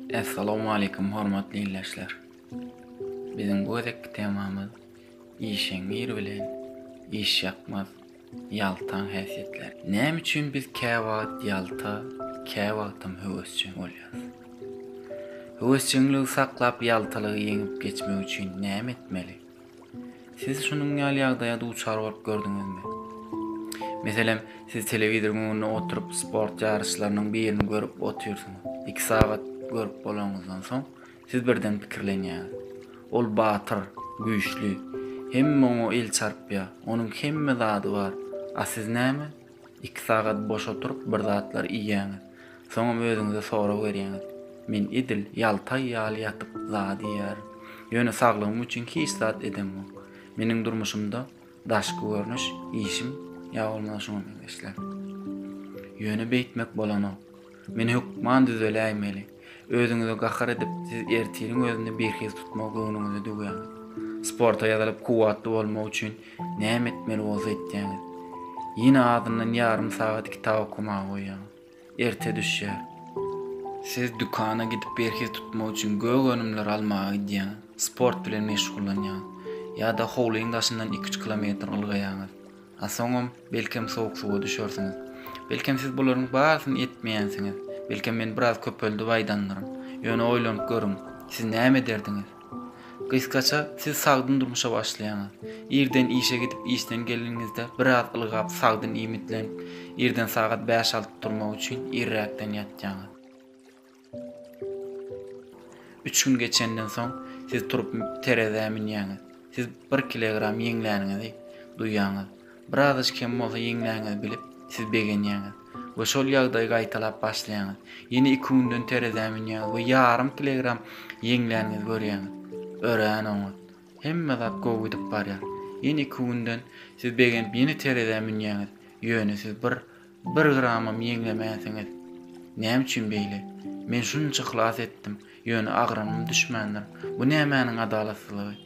Essalamualeýkum hormatly ildeşler. Biziň bu gezekki temamyz işeňňir bilen işýakmaz ýaltaň häsiýetleri. Näme üçin biz käwagt ýalta, käwagtam höwesjeň bolýarys? Höwesjeňligi saklap ýaltalygy ýeňip geçmek üçin näme etmeli? Siz şunuň ýaly ýagdaýa duçar bolup gördüňizmi? Meselem, siz telewizoryň öňünde oturyp, sport ýaryşlarynyň birini görüp otyrsyňyz. Iki sagat görüp bolanyňyzdan soň, siz birden pikirlenýäňiz, Ol batyr, güýçli, hemme oňa el çarpýar, onuň hemme zady bar. A siz näme? Iki sagat boş oturyp bir zatlar iýýäňiz. Soňam özüňize sorag berýäňiz, Men edil ýaltaý ýaly ýatyp zat iýýärin. Ýöne saglygym üçin hiç zat edemok. Meniň durmuşymda daşky görnüş, işim ýa bolmasa şuňa meňzeşler. Ýöne beýtmek bolanok. Men hökman düzeläýmeli. Özüňize gahar edip, siz ertiriň özüni birhiz tutmagy göwnüňize düwýäňiz. Sporta ýazylyp kuwwatly bolmak üçin näme etmeli bolsa etýäňiz. Ýene azyndan ýarym sagat kitap okamaga goýýaňyz. Erte düşýär. Siz dükana gidip birhiz tutmak üçin gök önümler almaga gidýäňiz. Sport bilen meşgullanýaňyz. Ýa-da howlyň daşyndan iki-üç kilometr ylgaýaňyz. A soňam, belkem, sowuk suwa düşersiňiz. Belkem, siz bularyň barysyny etmeýänsiňiz. Belkem, men biraz köpeldip aýdandyryn. Ýöne oýlanyp görüň, siz näme ederdiňiz? Gysgaça, siz sagdyn durmuşa başlaýaňyz. Irden işe gidip, işden geleniňizde, biraz ylgap, sagdyn iýmitlenip, irden sagat bäş-alty turmak üçin irräkden ýatýaňyz. Üç gün geçenden soň siz turup terezä münýäňiz. Siz bir kilogram ýeňläniňizi duýýaňyz. Birazajk hem bolsa ýeňläňizi bilip, siz begenýäňiz we şol ýagdaýy gaýtalap başlaýaňyz. Ýene iki günden terezä münýäňiz we ýarym kilogram ýeňläniňizi görýäňiz. Örän oňat. Hemme zat gowy gidip barýar. Ýene iki günden siz begenip ýene terezä münýäňiz. Ýöne siz bir Bir gramam ýeňlemäsiňiz. Näme üçin beýle? Men şunça yhlas etdim, ýöne agramym düşmändir. Bu nämäniň adalatsyzlygy?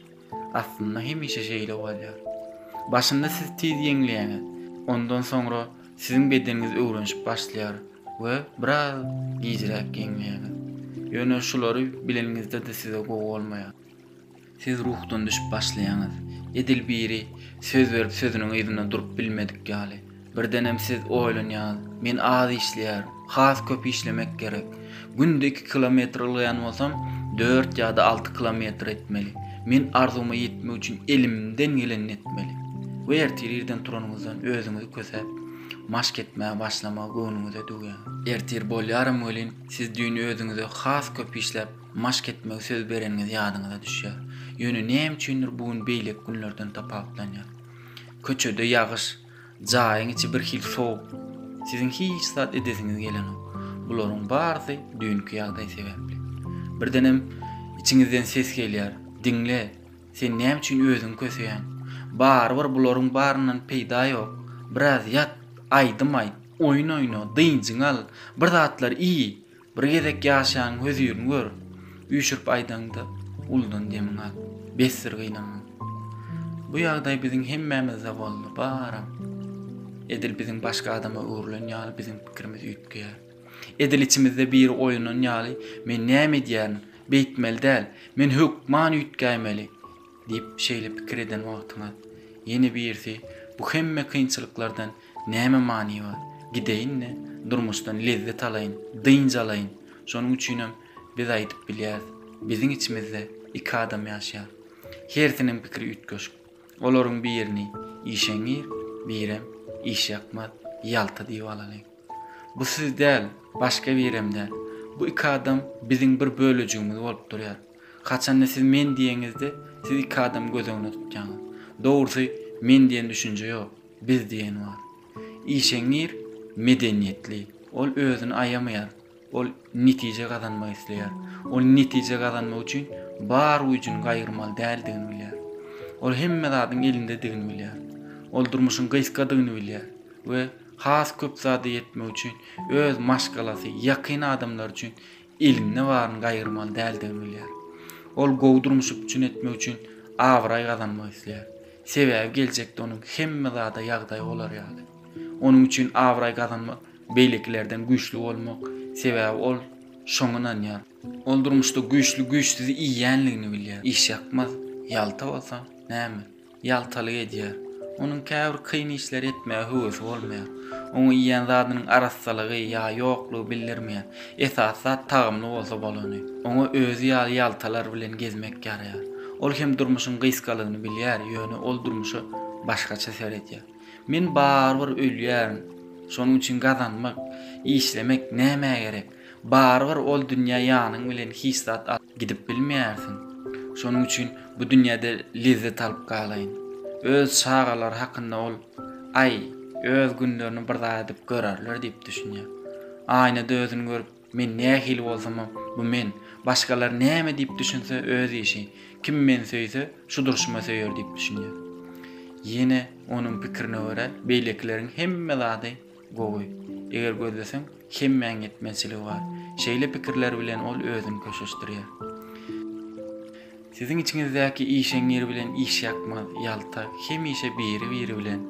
Aslynda hemişe şeýle bolýar. Başynda siz tiz ýeňleýäňiz, ondan soňra siziň bedeniňiz öwrenişip başlaýar we biraz gijräk ýeňleýäňiz. Ýöne şulary bileniňizde-de size gowy bolmaýar. Siz ruhdan düşüp başlaýaňyz. Edil biri söz berip sözüniň yzynda durup bilmedik ýaly. Birdenem siz oýlanýaňyz, Men az işleýärin. Has köp işlemek gerek. Günde iki kilometr ylgaýan bolsam, dört ýa-da alty kilometr etmeli. Men arzuwyma ýetmek üçin elimden gelenini etmeli. We ertir irden turanyňyzdan özüňizi kösäp, maşk etmäge başlamagy göwnüňize düwýäňiz. Ertir bolýaram welin, siz düýn özüňize has köp işläp, Maşk etmegi söz bereniňiz ýadyňyza düşýär. Ýöne näme üçindir bu gün beýleki günlerden tapawutlanýar. Köçede ýagyş, jaýyň içi birhili sowuk. Siziň hiç zat edesiňiz gelenok. Bularyň barysy düýnki ýagdaý sebäpli. Birdenem içiňizden ses gelýär, Diňle, sen näme üçin özüňi köseýäň? Barybir bularyň baryndan peýda ýok. Biraz ýat, aýdym aýt, oýun oýna, dynjyňy al, bir zatlar iý, Bir gezek ýaşaň hözirini gör, üýşürip aýdaňda, uludan demiň al. Besdir gynanma. Bu ýagdaý biziň hemmämizde boldy, baram. Edil biziň başga adama öwrülen ýaly biziň pikirimiz üýtgeýär. Edil içimizde biri oýanan ýaly, men näme edýärin, beýtmeli däl, men hökman üýtgäýmeli. Diýip, şeýle pikir eden wagtyňyz, ýene birisi, Bu hemme kynçylyklardan näme many bar? Gideýin-de, durmuşdan lezzet alaýyn, dynç alaýyn. Şonuň üçinem biz aýdyp bilýäris, Biziň içimizde iki adam ýaşaýar. Hersiniň pikiri üýtgeşik. Olaryň birini işeňňir, birem işýakmaz, ýalta diýip alalyň. Bu siz däl, başga birem däl. Bu iki adam biziň bir bölejigimiz bolup durýar. Haçanda siz men diýeňizde, siz iki adamy göz öňünde tutýaňyz. Dogrusy, men diýen düşünje ýok, biz diýeni bar. Işeňňir, medeniýetli. Ol özüni aýamaýar. Ol netije gazanmak isleýär. Ol netije gazanmak üçin bar güýjüni gaýgyrmaly däldigini bilýär. Ol hemme zadyň elindedigini bilýär. Ol durmuşyň gysgadygyny bilýär we has köp zada ýetmek üçin öz maşgalasy, ýakyn adamlary üçin eliňde baryny gaýgyrmaly däldigini bilýär. Ol gowy durmuş üpjün etmek üçin abraý gazanmak isleýär. Sebäbi geljekde onuň hemme zada ýagdaýy bolar ýaly. Onuň üçin abraý gazanmak beýlekilerden güýçli bolmak, sebäbi ol şoňa ynanýar. Ol durmuşda güýçli güýçsüzi iýýänligini bilýär. Işýakmaz, ýalta bolsa näme? Ýaltalyk edýär. Onuň käbir kyn işleri etmäge höwesi bolmaýar. Oňa iýen zadynyň arassalygy ýa ýoklugy bildirmeýär. Esasy zat tagamly bolsa bolany. Oňa özi ýaly ýaltalar bilen gezmek ýaraýar. Ol hem durmuşyň gysgalygyny bilýär, ýöne ol durmuşa başgaça seredýär. Men barybir ölýärin. Şonuň üçin gazanmak, işlemek nämä gerek? Barybir ol dünýä ýanyň bilen hiç zat alyp gidip bilmeýärsiň. Şonuň üçin bu dünýäde lezzet alyp galaýyn. Öz çagalary hakynda ol, Aý, öz günlerini bir zat edip görerler diýip düşünýär. Aýnada özüni görüp, Men nähili bolsamam, bu men. Başgalar näme diýip düşünse, öz işi. Kim meni söýse, şu durşuma söýer diýip düşünýär. Ýene onuň pikirine görä, beýlekileriň hemme zady. Gowy. Eger gözleseň, hemmäň ýetmezçiligi bar. Şeýle pikirler bilen ol özüni köşeşdirýär. Siziň içiňizdäki işeňňir bilen işýakmaz, ýaltak, hemişe biri-biri bilen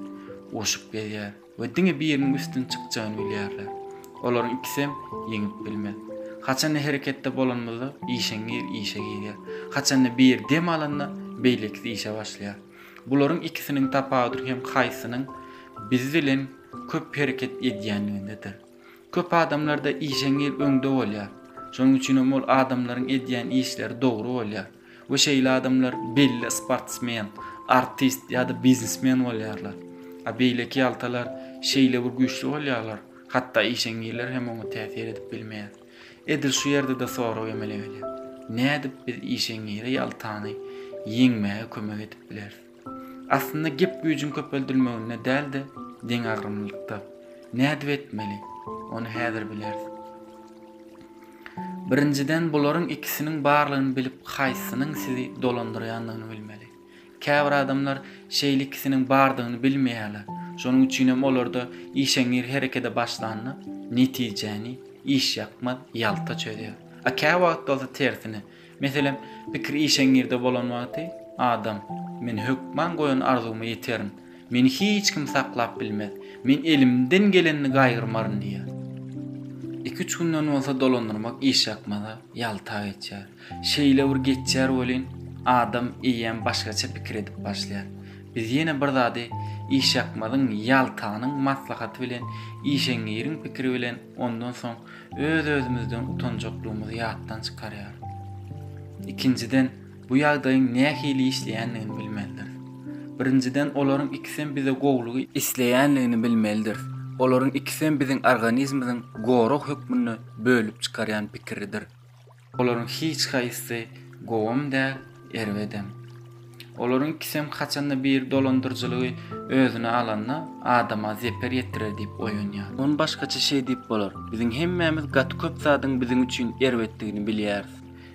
urşup gezýär we diňe biriniň üstün çykjagyny bilýärler. Olaryň ikisem ýeňip bilmez. Haçanda hereketde bolanymyzda, işeňňir işe girýär. Haçanda biri dem alanda, beýlekisi işe başlaýar. Bularyň ikisiniň tapawudy hem haýsynyň biz bilen köp hereket edýänligindedir. Köp adamlarda işeňňir öňde bolýar. Şonuň üçin hem ol adamlaryň edýän işleri dogry bolýar we şeýle adamlar belli sportsmen, artist ýa-da biznesmen bolýarlar. A beýleki ýaltalar şeýle bir güýçli bolýarlar, hatda işeňňirler hem oňa täsir edip bilmeýär. Edil şu ýerde-de sorag emele gelýär. Nädip biz işeňňire ýaltany ýeňmäge kömek edip bileris? Aslynda gep güýjüň köpeldilmeginde däl-de, deňagramlylykda. Nädip etmeli? Ony häzir bileris. Birinjiden, bularyň ikisiniň barlygyny bilip, haýsysynyň sizi dolandyrýandygyny bilmeli. Käbir adamlar şeýle ikisiniň bardygyny bilmeýärler. Şonuň üçin hem olarda işeňňir herekede başlanda, netijäni işýakmaz ýalta çözýär. A käwagt bolsa tersine. Meselem, pikir işeňňirde bolan wagty, adam, Men hökman goýan arzuwyma ýeterin. Meni hiç kim saklap bilmez. Men elimden gelenini gaýgyrmaryn diýýär. Iki-üç günden bolsa dolandyrmak işýakmaza ýalta geçýär. Şeýle bir geçýär welin, adam eýýäm başgaça pikir edip başlaýar. Biz ýene bir zady Işakmazyň, Ýaltanyň maslahaty bilen, Işeňňiriň pikiri bilen ondan soň öz-özümizden utanjaklygymyzy ýatdan çykarýarys. Ikinjiden, bu ýagdaýyň nähili işleýändigini bilmelidiris. Birinjiden, olaryň ikisem bize gowulygy isleýänligini bilmelidiris. Olaryň ikisem biziň organizmyzyň gorag hökmünde bölüp çykarýan pikiridir. Olaryň hiç haýsysy gowam däl, erbedem. Olaryň ikisem haçanda bir dolandyryjylygy özüne alanda adama zeper ýetirer diýip oýanýar. Ony başgaça şeý diýip bolar, biziň hemmämiz gaty köp zadyň biziň üçin erbetdigini bilýäris.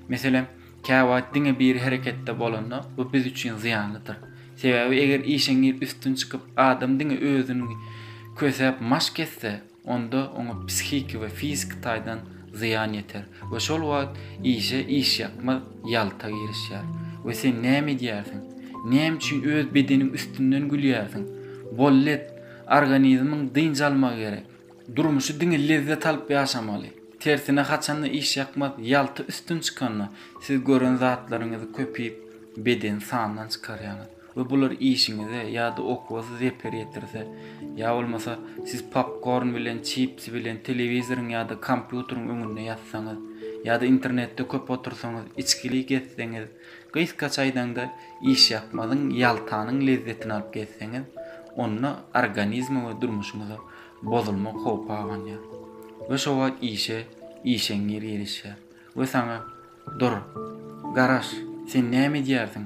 Meselem, käwagt diňe biri hereketde bolanda bu biz üçin zyýanlydyr. Sebäbi eger işeňňir üstün çykyp adam diňe özüni kösäp maşk etse, onda oňa psihiki we fiziki taýdan zyýan ýeter we şol wagt işe işýakmaz ýalta girişýär we sen näme edýärsiň? Näme üçin öz bedeniň üstünden gülýärsiň? Bollet, organizmiň dynç almagy gerek. Durmuşy diňe lezzet alyp ýaşamaly. Tersine haçanda işýakmaz ýalta üstün çykanda siz gören zatlaryňyzy köpüp beden sandan çykarýaňyz. we bular işiňize ýa-da okuwa-da zeper ýetirse, ýa bolmasa siz popkorn bilen, çipsi bilen telewizoryň ýa-da kompýuteriň öňünde ýatsaňyz, ýa-da internetde köp otursaňyz, içgili gezseňiz, gysgaça aýdaňda işýakmazyň, ýaltanyň lezzetini alyp gezseňiz, onda organizme we durmuşyňyza bozulma howpy abanýar we şo wagt işe işeňňir girişýär we saňa Dur, garaş, sen näme edýärsiň?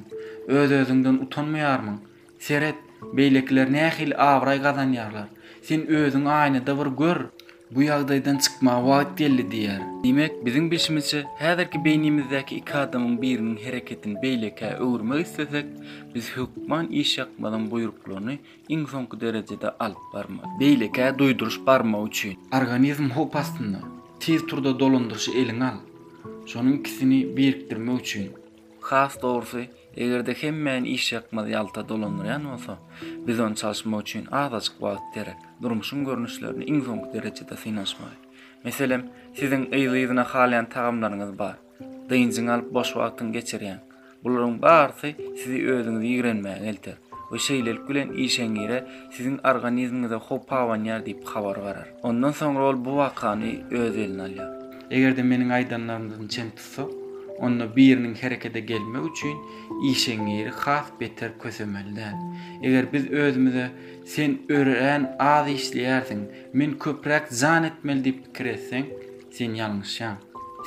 Öz-özüňden utanmaýarmyň? Seret, beýlekiler nähili abraý gazanýarlar. Sen özüňi aýnada bir gör! Bu ýagdaýdan çykmaga wagt geldi diýer. Diýmek, biziň bilşimizçe, häzirki beýnimizdäki iki adamyň biriniň hereketini beýlekä öwürmek islesek, biz hökman işýakmazyň buýruklaryny iň soňky derejede alyp barmaly. Beýlekä duýduryş barmagy üçin. Organizm howp astynda. Tiz turda dolandyryşy eliňe al. Şonuň ikisini birikdirmek üçin. Has dogrusy, eger-de hemmäni işýakmaz ýalta dolandyrýan bolsa, biz ony çalyşmak üçin azajyk wagt gerek. Durmuşyň görnüşlerini iň soňky derejede synanyşmaly. Meselem, siziň yzly-yzyna halaýan tagamlaryňyz bar. Dynjyňy alyp boş wagtyňy geçirýäň. Bularyň barysy sizi özüňizi ýigrenmäge elter we şeýlelik bilen işeňňire siziň organizmiňize howp abanýar diýip habar barar. Ondan soňra ol bu wakany öz eline alýar. Eger-de meniň aýdanlarymdan çen tutsak, onda biriniň herekete gelmegi üçin işeňňiri has beter kösemeli däl. Eger biz özümize sen örän az işleýärsiň, men köpräk jan etmeli diýip pikir etseň, Sen ýalňyşýaň.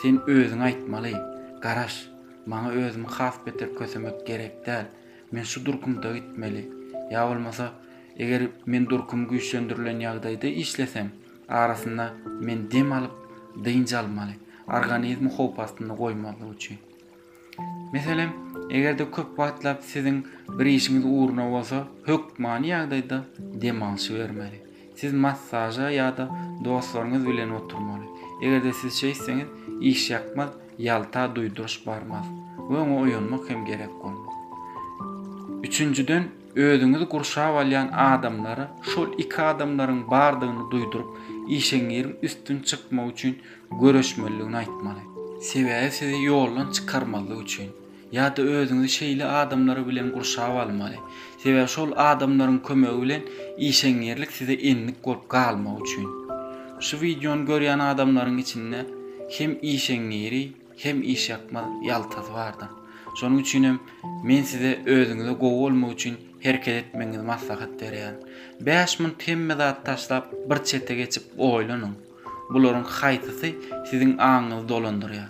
Sen özüňe aýtmaly. Garaş, maňa özümi has beter kösemek gerek däl. Men şu durkumda gitmeli. Ýa bolmasa, eger men durkum güýçlendirilen ýagdaýda işlesem, arasynda men dem alyp, dynç almaly, organizmi howp astynda goýmazlyk üçin. Meselem, eger-de köp wagtlap siziň bir işiňiz ugruna bolsa, hökmany ýagdaýda dem alşy bermeli. Siz massaža ýa-da dostlaryňyz bilen oturmaly. Eger-de siz şeýtseňiz, işýakmaz ýalta duýduryş barmaz we oňa oýanmak hem gerek bolmaz. Üçünjiden, özüňizi gurşap alýan adamlara şol iki adamlaryň bardygyny duýduryp, işeňňiriň üstün çykmagy üçin göreşmelidigini aýtmaly. Sebäbi sizi ýoldan çykarmazlyk üçin. Ýa-da özüňizi şeýle adamlar bilen gurşap almaly. Sebäbi şol adamlaryň kömegi bilen işeňňirlik size endik bolup galmagy üçin. Şu wideony görýän adamlaryň içinde hem işeňňiri, hem işýakmaz ýaltasy bardyr. Şonuň üçin hem men size özüňize gowy bolmak üçin hereket etmegiňizi maslahat berýärin. Bäş munt hemme zady taşlap bir çete geçip oýlanyň. Bularyň haýsysy siziň aňyňyzy dolandyrýar?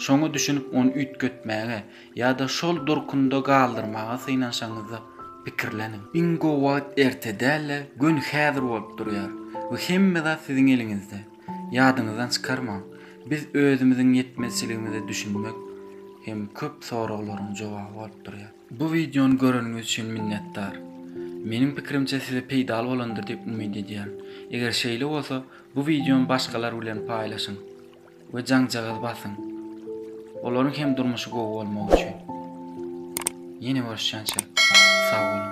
Şoňa düşünip ony üýtgetmäge ýa-da şol durkunda galdyrmaga synanşaňyzda pikirleniň. Iň gowy wagt erte däl-de, göni häzir bolup durýar we hemme zat siziň eliňizde. Ýadyňyzdan çykarmaň, biz özümiziň ýetmezçiligimize düşünmek hem köp soraglaryň jogaby bolup durýar. Bu wideony göreniňiz üçin minnetdar. Meniň pikirimçe size peýdaly bolandyr diýip umyt edýärin. Eger şeýle bolsa, bu wideony başgalar bilen paýlaşyň we jaňjagaz basyň. Olaryň hem durmuşy gowy bolmagy üçin. Ýene görüşýänçä, sag boluň.